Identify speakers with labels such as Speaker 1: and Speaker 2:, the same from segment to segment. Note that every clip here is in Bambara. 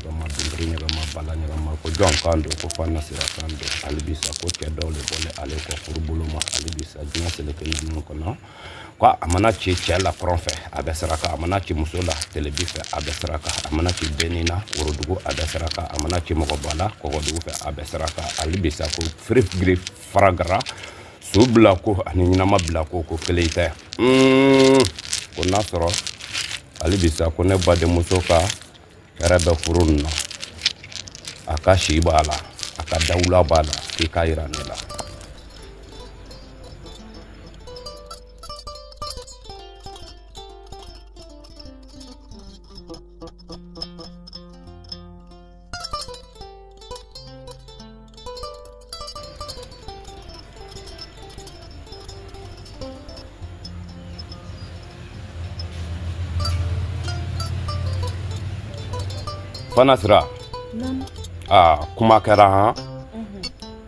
Speaker 1: ɲɔgɔnma dundiri ɲɔgɔnma bala ɲɔgɔnma ko jɔn kan don ko Fana Sira kan don hali bi sa ko cɛ dɔw de bɔlen ale kɔ furubolo ma hali bi sa diɲɛ seleke ninnu kɔnɔ ko a mana ci cɛ la kɔrɔn fɛ a bɛ saraka a mana ci muso la telebi fɛ a bɛ saraka a mana ci denni na worodugu a bɛ saraka a mana ci mɔgɔba la kɔgɔdugu fɛ a bɛ saraka hali bi sa ko firi giri faragara su bila ko ani ɲɛnama bila ko ko kelen tɛ ko n'a sɔrɔ hali bi sa ko ne badenmuso ka hɛrɛ bɛ furu nin na a ka si b'a la a ka dawula b'a la k'i k'a yira ne la Fana Sira, naamu, aa kuma kɛra han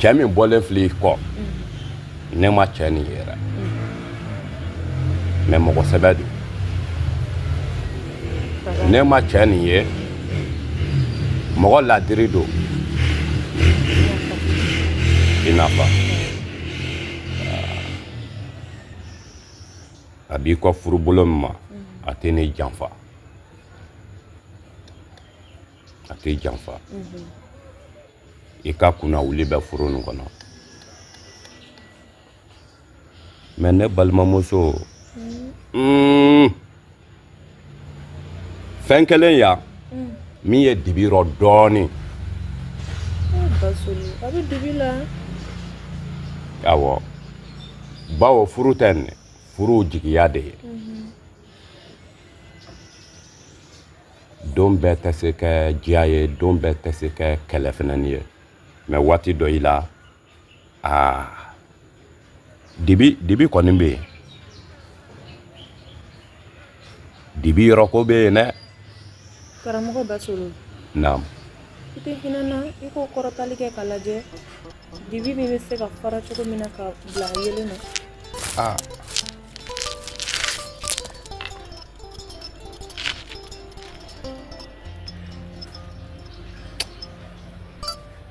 Speaker 1: cɛ min bɔlen filɛ i kɔ ne ma cɛ nin yɛrɛ mɛ mɔgɔ sɛbɛ don ne ma cɛ nin ye mɔgɔ ladiri don i n'a fɔ a b'i kɔ furubolo min ma mm-hmm. a tɛ ne janfa a tɛ janfa mm-hmm. i ka kunna wuli bɛ furu nin kɔnɔ mɛ ne balimamuso mm-hmm. mm, fɛn kelen yan mm. min ye dibi rɔ dɔɔnin a
Speaker 2: bɛ dibi la awɔ
Speaker 1: bawo furu tɛ nin furu jigiya de ye mm-hmm. don bɛɛ tɛ se kɛ diya ye don bɛɛ tɛ se kɛ kɛlɛ fɛnɛni ye mɛ waati dɔ i la aa dibi dibi kɔni bɛ yen dibi yɔrɔ ko bɛ yen dɛ karamɔgɔ
Speaker 2: Basolo naamu
Speaker 1: i tɛ
Speaker 2: hinɛ n na i k'o kɔrɔtali kɛ k'a lajɛ dibi min bɛ se ka fara cogo min na ka bila yelen na aa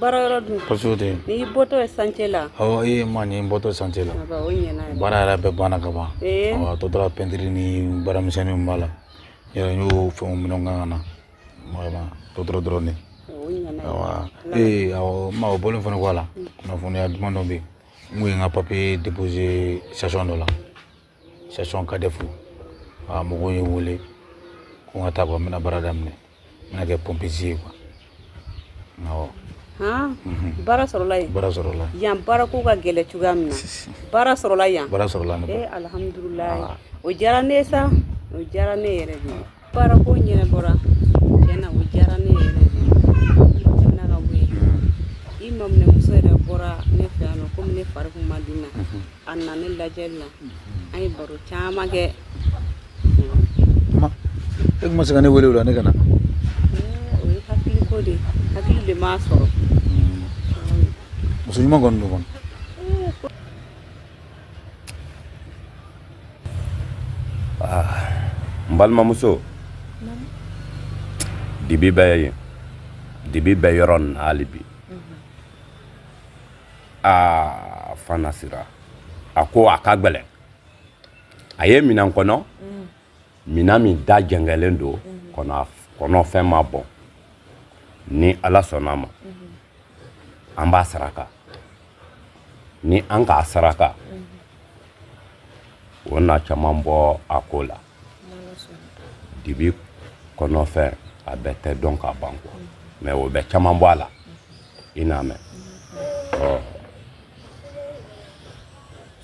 Speaker 3: baara yɔrɔ dun kɔsɛbɛ tɛ n'i bɔtɔ ye chantier la awɔ ee mais ne bɔtɔ chantier la o ɲɛna yɛrɛ baara yɛrɛ bɛɛ banna ka ban awɔ a tɔ tora pɛntiri ni baaramisɛnninw b'a la yɛrɛ n y'o fɛnw minɛnw kan ka na vraiment tɔ tora dɔrɔn de awɔ ee awɔ mais o bɔlen fana kɔ a la kunnafoniya duman dɔ bɛ yen n kun ye n ka papiye déposé station dɔ la station kadefu a mɔgɔw ye n wele ko n ka taa kuwa n bɛna baara daminɛ n bɛna kɛ pompisi ye kuwa awɔ mhm.
Speaker 2: baara sɔrɔla yen baara sɔrɔla yan baara ko ka gɛlɛ cogoya min na baara sɔrɔla yan baara sɔrɔla ne eh, alhamdulilayi o diyara ne ye sa o diyara ne yɛrɛ de ye baarako ɲɛnabɔra tiɲɛ na o diyara ne yɛrɛ tɛmɛna ka bɔ yen i maminɛmuso yɛrɛ bɔra ne fɛ yan nɔ komi ne fari kun ma di na a nana ne lajɛli la an ye baro caman
Speaker 3: kɛ e kun ma se ka ne wele o la ne ka na
Speaker 2: o ye hakiliko de hakili de m'a sɔrɔ
Speaker 3: muso ɲuman kɔni don kɔni
Speaker 1: Ah, n balimamuso dibi bɛ yen dibi bɛ yɔrɔ nin na hali bi aa fana sira a ko a ka gɛlɛn a ye minɛn kɔnɔ minɛn min da jɛngɛlen don kɔnɔ kɔnɔfɛn ma bɔn ni ala sɔnna a ma an b'a saraka ni an k'a saraka o na caman bɔ a ko la dibi kɔnɔfɛn a bɛɛ tɛ dɔn ka ban kuwa mɛ o bɛ caman bɔ a la i n'a mɛn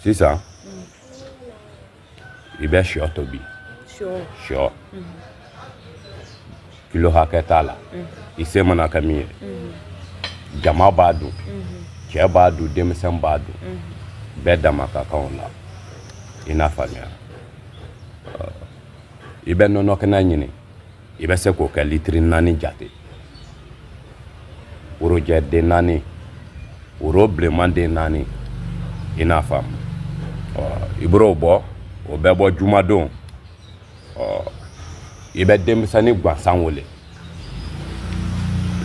Speaker 1: sisan i bɛ shɔ tobi shɔ kilo hakɛ t'a la i se mana kɛ min ye jama b'a dun cɛ b'a dun denmisɛn b'a dun bɛɛ dama ka kan o la i n'a faamuya i bɛ nɔnɔ kɛnɛ ɲini i bɛ se k'o kɛ litiri naani jate worojɛ den naani woro bilenman den naani i n'a faamu i b'o bɔ o bɛ bɔ jumadon i bɛ denmisɛnnin gansan wele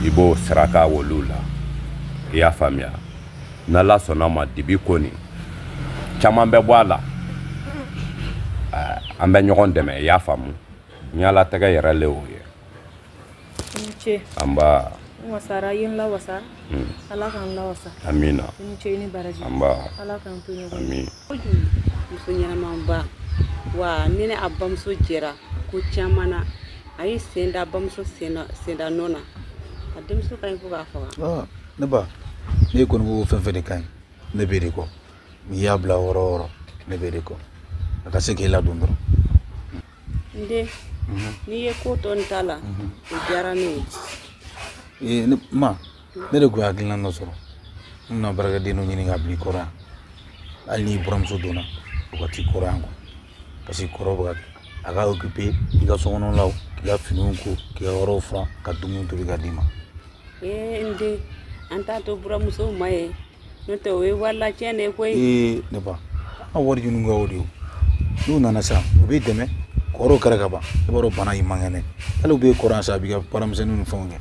Speaker 1: i b'o saraka olu la i y'a faamuya n'ala sɔnna ma dibi ko nin caman bɛ bɔ a la an bɛ ɲɔgɔn dɛmɛ i y'a faamu ɲalatigɛ yɛrɛ le o ye ce anba n wasara i ye
Speaker 4: n lawasa hmm. ala k'an lawasa amina i ni ce i
Speaker 1: ni baraji
Speaker 4: anba ala k'an
Speaker 1: to ɲɔgɔn amin muso
Speaker 2: ɲɛnamanba wa ne ni a bamuso jɛra ko caman na a y'i sen da bamuso senda nɔ na a denmuso ka ɲi fo k'a faga ah, ne
Speaker 3: ba ne kɔni ko fɛn fɛn de ka ɲi ne b'e de kɔ n'i y'a bila yɔrɔ o yɔrɔ ne b'e de kɔ a ka se k'i ladon dɔrɔn
Speaker 2: n den n'i ye ko to n ta la o diyara ne ye ee ne
Speaker 3: ma ne de tun ye hakilina dɔ sɔrɔ n bɛna baarakɛden dɔ ɲini ka bila i kɔrɔ yan hali n'i buramuso donna o ka t'i kɔrɔ yan quoi parce que kɔrɔ bɛ ka a ka occuper i ka sokɔnɔlaw k'i ka finiw ko k'i ka yɔrɔw furan ka dumuni tobi ka d'i ma ee n
Speaker 2: den an t'a to buramusow ma ye n'o tɛ o ye wari latiɲɛ de ye koyi ee ne ba
Speaker 3: an ka wari ɲini kɛ o de ye n'u nana sisan u b'i dɛmɛ kɔrɔw kɛra ka ban i b'a dɔn bana y'i man kɛnɛ hali u b'e kɔrɔ yan sa a b'i ka baaramisɛnninw ni fɛnw kɛ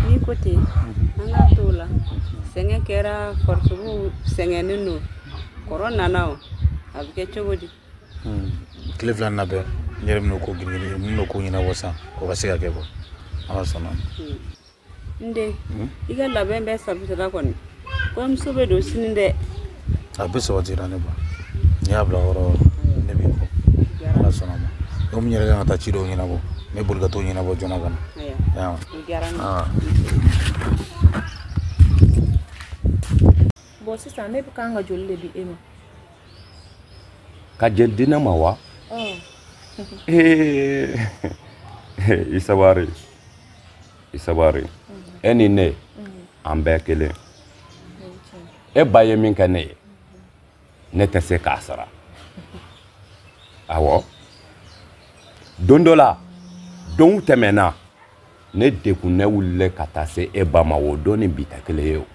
Speaker 3: n'i ko
Speaker 2: ten an ka t'o la sɛgɛn kɛra farisogo sɛgɛnnen don kɔrɔ nana o a bɛ kɛ cogo di tile
Speaker 3: fila na bɛɛ n yɛrɛ bɛna o ko girin girin n bɛna o ko ɲɛnabɔ sisan o ka se ka kɛ quoi ala sɔnna
Speaker 2: n den i ka labɛn bɛɛ sabatira kɔni kɔɲɔmuso bɛ don sini dɛ a
Speaker 3: bɛɛ sabatira ne ba n'i y'a bila yɔrɔ ne b'i kɔ ala sɔnna ma donc n yɛrɛ kan ka taa ci dɔw ɲɛnabɔ n bɛ boli ka t'o ɲɛnabɔ joona ka na
Speaker 4: bon sisan ne bɛ kan ka joli de di e
Speaker 1: ma ka joli di ne ma wa ee i sabari i sabari e ni ne an bɛɛ kelen e ba ye min kɛ ne ye ne tɛ se k'a sara awɔ don dɔ la donw tɛmɛna ne degunnen wulila ka taa se e ba ma o don ni bi tɛ kelen ye o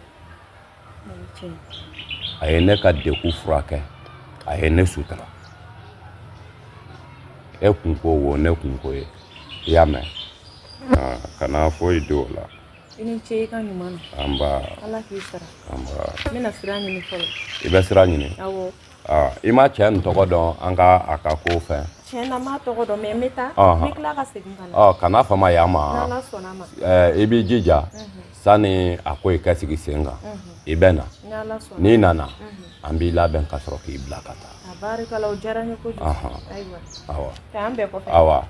Speaker 1: a ye ne ka degun furakɛ a ye ne sutura e kunko o ne kunko ye i y'a mɛn kana foyi don o la i ni ce i
Speaker 4: ka ɲuman na anba ala k'i
Speaker 1: sara
Speaker 4: anba n bɛna
Speaker 1: sira ɲini
Speaker 4: fɔlɔ i bɛ sira ɲini
Speaker 1: awɔ
Speaker 4: Ah, i ma
Speaker 1: cɛ nin tɔgɔ dɔn an ka a ka ko fɛ tiɲɛ na n m'a tɔgɔ
Speaker 4: dɔn mais n bɛ taa n bɛ tila ka segin ka na ɔ kana fama yan ma
Speaker 1: n'ala sɔnna ma
Speaker 4: i b'i jija
Speaker 1: sani a ko in ka sigi sen kan i bɛ na n'i nana an b'i labɛn ka sɔrɔ k'i bila ka taa a barikala o diyara
Speaker 4: n ye kojugu ayiwa awa k'an
Speaker 1: bɛn kɔfɛ awa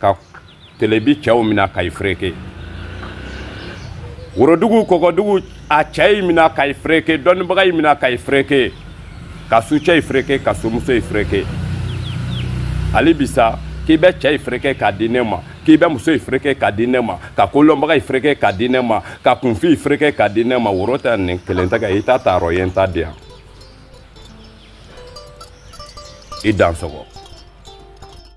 Speaker 1: ka telebi cɛw mina ka yi fereke worodugu kɔgɔdugu a cɛ yi mina ka yi fereke dɔnnibaga yi mina ka yi fereke ka sucɛ yi fereke ka sumuso yi fereke hali bi sa k'i bɛ cɛ yi fereke k'a di ne ma k'i bɛ muso yi fereke k'a di ne ma ka kolɔnbaga yi fereke k'a di ne ma ka kunfin yi fereke k'a di ne ma woro tɛ nin kelen tɛ kɛ i t'a ta rɔ ye n t'a di yan i dansɔgɔ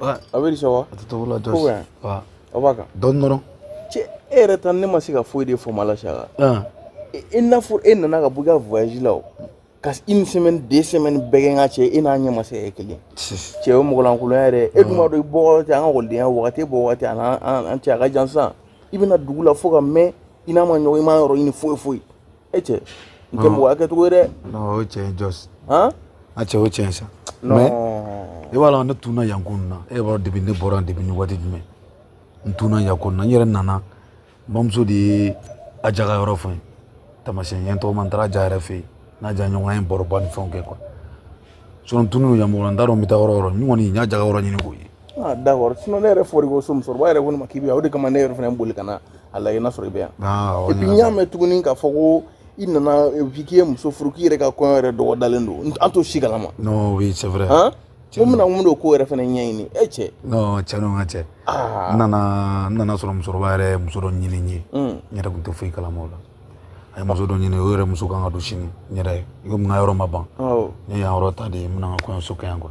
Speaker 5: a
Speaker 3: bɛ sɔn wa a tɛ
Speaker 5: togo la
Speaker 3: jɔsi aw
Speaker 5: b'a kan dɔɔni
Speaker 3: dɔrɔn cɛ e
Speaker 5: yɛrɛ ta ne ma se ka foyi de faamu a la sa cɛ i n'a fɔ e nana ka bɔ i ka voyage la o ka une semaine deux semaines bɛɛ kɛ n ka cɛ e n'a ɲɛ ma se e kelen cɛ o mɔgɔlankolonya yɛrɛ e dun b'a dɔn i bɔ wagati an ka ekɔlidenya wagati e bɔ wagati a n'an cɛ a ka jan sisan i bɛ na dugu la fo ka mɛn i n'an ma ɲɔgɔn ye i m'an yɔrɔ ɲini foyi foyi e cɛ n tɛ mɔgɔ hakɛ cogo ye dɛ. non o ye cɛn ye
Speaker 3: jɔsi. han. a cɛ
Speaker 5: o cɛn ye
Speaker 3: sa. non mais e b'a dɔn ne tunna yan ko nin na e b'a dɔn depuis ne bɔra yan depuis nin waati jumɛn n tunna yan ko nin na n yɛrɛ nana n bamuso de ye aja ka yɔrɔ fɔ n ye taamasiyɛn n ye tɔgɔma n taara aja yɛrɛ fɛ yen n'aja ɲɔgɔn an ye baroba ni fɛnw kɛ quoi sinon n tunnen don yan mɔgɔ la n t'a dɔn n bɛ taa yɔrɔ o yɔrɔ n kɔni n y'aja ka yɔrɔ ɲini k'o ye. Ah, d'accord sinon
Speaker 5: ne yɛrɛ fɔri ko so musokɔrɔba yɛrɛ ko ne ma k'i bɛ yan o de kama ne yɛrɛ fana boli ka na a lajɛ n'a sɔrɔ i bɛ yan ah, et puis n y'a mɛn tuguni k'a fɔ ko i nana bi k'i ye muso furu k'i yɛrɛ ka kɔɲɔ yɛrɛ dɔgɔdalen don an t'o si kalama non oui c'est vrai
Speaker 3: hein ko n bɛna mun don
Speaker 5: ko yɛrɛ fana ɲɛɲini e cɛ non cɛ non n ka
Speaker 3: cɛ n nana n nana sɔrɔ musokɔrɔba yɛrɛ muso dɔ ɲini n ye n yɛrɛ tun tɛ foyi kalama o la a ye muso dɔ ɲini o yɛrɛ muso kan ka don sini n yɛrɛ y'a ye komi n ka yɔrɔ ma ban ne ye yan yɔrɔ ta de n bɛna n ka kɔɲɔso kɛ yan quoi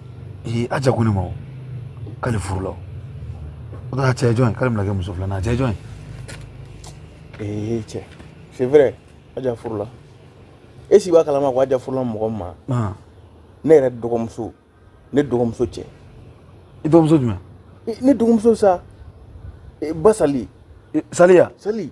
Speaker 3: ee aja ko ne ma o k'ale furula o o t'a cɛ jɔn ye k'ale bɛna kɛ muso filanan a cɛ jɔn ye ee
Speaker 5: cɛ c'est vrai aja furula e si b'a kalama ko aja furula mɔgɔ min ma ne yɛrɛ dɔgɔmuso ne dɔgɔmuso cɛ i dɔgɔmuso
Speaker 3: jumɛn ne dɔgɔmuso
Speaker 5: sa basali saliya
Speaker 3: sali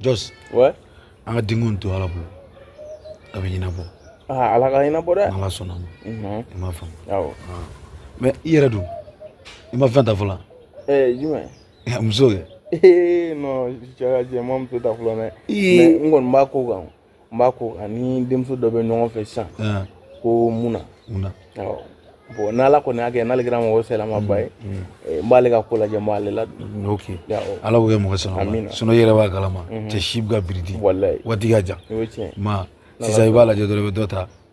Speaker 3: Jos.
Speaker 5: Ouais. An ka diɲɛko
Speaker 3: to Ala bolo. A bɛ ɲɛnabɔ. Aa Ala k'a ɲɛnabɔ
Speaker 5: dɛ. N'Ala sɔnna ma. Unhun.
Speaker 3: I m'a faamu. Awɔ.
Speaker 5: Mais
Speaker 3: i yɛrɛ dun i ma fɛn ta fɔlɔ. Ee
Speaker 5: jumɛn? Muso
Speaker 3: kɛ. Ee
Speaker 5: non cɛ n ma muso ta fɔlɔ dɛ. Ee mais n kɔni b'a ko kan. n b'a ko an ni denmuso dɔ bɛ ɲɔgɔn fɛ sisan ko mun na bɔn n'ala kɔni y'a kɛ n'ale kɛra mɔgɔ sɛlamaba ye mm, mm. Eh, n b'ale ka ko lajɛ n b'ale ladon,
Speaker 3: ok ala k'o kɛ mɔgɔ sɛlamaba sinon i yɛrɛ b'a kalama mm-hmm. cɛ si bɛ ka biridi waati ka jan ma sisan i b'a lajɛ dɔrɔn i bɛ dɔ ta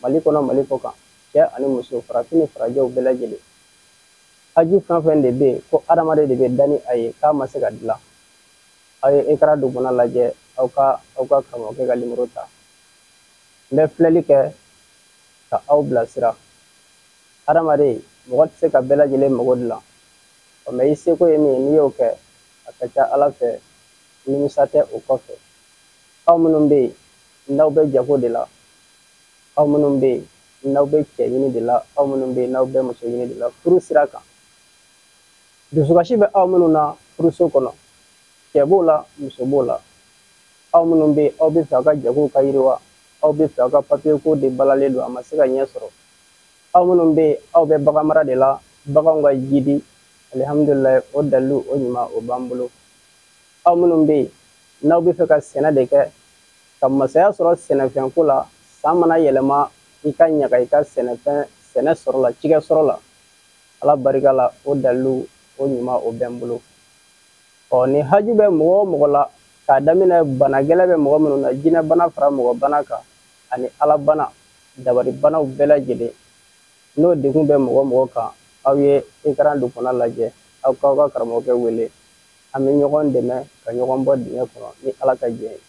Speaker 6: Mali kɔnɔ Mali kɔ kan, cɛ ani muso, farafin ni farajɛw bɛɛ lajɛlen. Haju fɛn o fɛn de bɛ yen, ko hadamaden de bɛ da ni a ye, k'a ma se ka dilan, aw ye ekaran dugumana lajɛ, aw ka aw ka karamɔgɔkɛ ka nimoro ta. N bɛ filɛli kɛ ka aw bilasira. Hadamaden, mɔgɔ tɛ se ka bɛɛ lajɛlen mago dilan. Ɔ mais i seko ye min ye, n'i y'o kɛ, a ka ca Ala fɛ nimisa tɛ o kɔfɛ. Aw minnu bɛ yen, n'aw bɛ jago de la aw minnu bɛ yen n'aw bɛ cɛ ɲini de la aw minnu bɛ yen n'aw bɛ muso ɲini de la furu sira kan dusukasi bɛ aw minnu na furuso kɔnɔ cɛ b'o la muso b'o la aw minnu bɛ yen aw bɛ fɛ aw ka jagow ka yiriwa aw bɛ fɛ aw ka papiye ko de balalen don a ma se ka ɲɛ sɔrɔ aw minnu bɛ yen aw bɛ bagan mara de la baganw ka jidi alihamudulilayi o dalilu o ɲuman o b'an bolo aw minnu bɛ yen n'aw bɛ fɛ ka sɛnɛ de kɛ ka masaya sɔrɔ sɛnɛfɛn ko la san mana yɛlɛma i ka ɲaga i ka sɛnɛfɛn sɛnɛ sɔrɔ la cikɛ sɔrɔ la ala barika la o dalilu o ɲuman o bɛ n bolo ɔ ni haju bɛ mɔgɔ o mɔgɔ la k'a daminɛ bana gɛlɛn bɛ mɔgɔ minnu na jinɛ bana fara mɔgɔ bana kan ani ala bana dabari banaw bɛɛ lajɛlen n'o degun bɛ mɔgɔ o mɔgɔ kan aw ye ekaran dugumana lajɛ aw k'aw ka karamɔgɔkɛ wele an bɛ ɲɔgɔn dɛmɛ ka ɲɔgɔn bɔ dingɛ kɔnɔ ni ala ka jɛn ye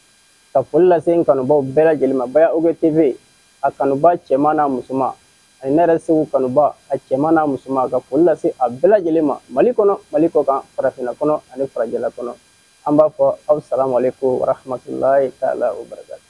Speaker 6: ka foli lase n kanubaw bɛɛ lajɛlen ma baya og tv a kanuba cɛman n'a musoman ani ne yɛrɛ seku kanuba a cɛman n'a musoman ka foli lase a bɛɛ lajɛlen ma mali kɔnɔ mali kɔ kan farafinna kɔnɔ ani farajɛla kɔnɔ an b'a fɔ aw salamu aleyikumu warahamatulayi taala wa barakatu